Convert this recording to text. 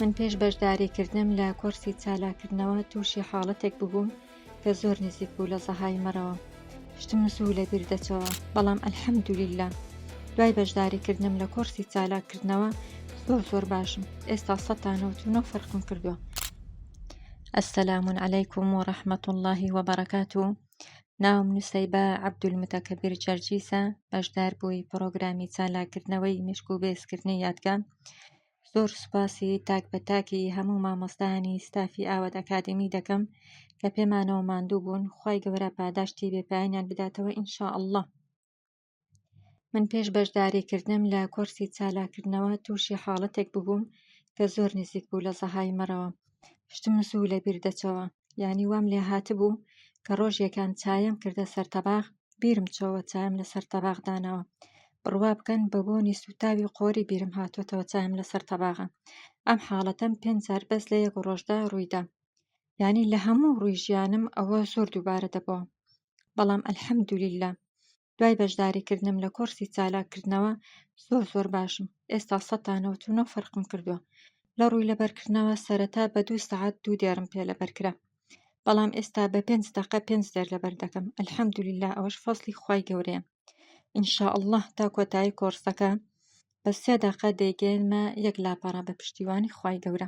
من پێش بەشداریکردنم لە کۆرسی چالاککردنەوە تووشی حاڵەتێک ببووم کە زۆر نزیک بوو لە زەهایمەرەوە، شتم زوو لەبیر دەچەوە، بەڵام الحمدللە دوای بەشداریکردنم لە کۆرسی چالاککردنەوە زۆر زۆر باشم، ئێستا سەد تا نەوەت و نۆ فەرقم کردووە. السلام علیکم و رحمە اللە و بەڕەکاتوو ناوم نوسەیبە عەبدولمتەکەبیر جەرجیسە بەشداربووی پڕۆگرامی چالاککردنەوەی مێشک و بەهێزکردنی یادگە زۆر سوپاسی تاک بە تاکی هەموو مامۆستایانی ستافی ئاوات ئەکادمی دەکەم کە پێمانەوە ماندوو بوون خوای گەورە پاداشتی بێپایانیان بداتەوە ان شاء اللە من پێش بەشداریکردنم لە کۆرسی چالاککردنەوە تووشی حاڵەتێک ببووم کە زۆر نزیک بوو لە زەهای مەرەوە شتم زوو لەبیر دەچەوە یانی وام لێ هاتبوو کە ڕۆژێکان چایەم کردە سەر تەباخ بیرم چۆوە چایم لەسەر تەباخ داناوە بڕوا بکەن بە بۆنی سوتاوی قۆری بیرم هاتۆتەوە چایم لەسەر تەباغە ئەم حاڵەتەم پێنج جار بەس لە یەک ڕۆژدا ڕوویدا یعنی لە هەموو ڕووی ژیانم ئەوە زۆر دووبارە دەبەوە بەڵام ئەلحەمدولیلا دوای بەشداریکردنم لە کۆرسی چالاککردنەوە زۆر زۆر باشم ئێستا سەتانەوە و نۆ فەرقم کردووە لە ڕووی لەبەرکردنەوە سەرەتا بە دوو سەعات دوو دێڕم پێ لەبەرکرا بەڵام ئێستا بە پێنج دەقە پێنج دەر لەبەر دەکەم الحمدللە ئەوەش فەزڵی خوای گەورەیە ان شاء اللە تا کۆتایی کۆڕسەکە بە سێ دەقە دەیگەێنمە یەک لاپەڕە بە پشتیوانی خوای گەورە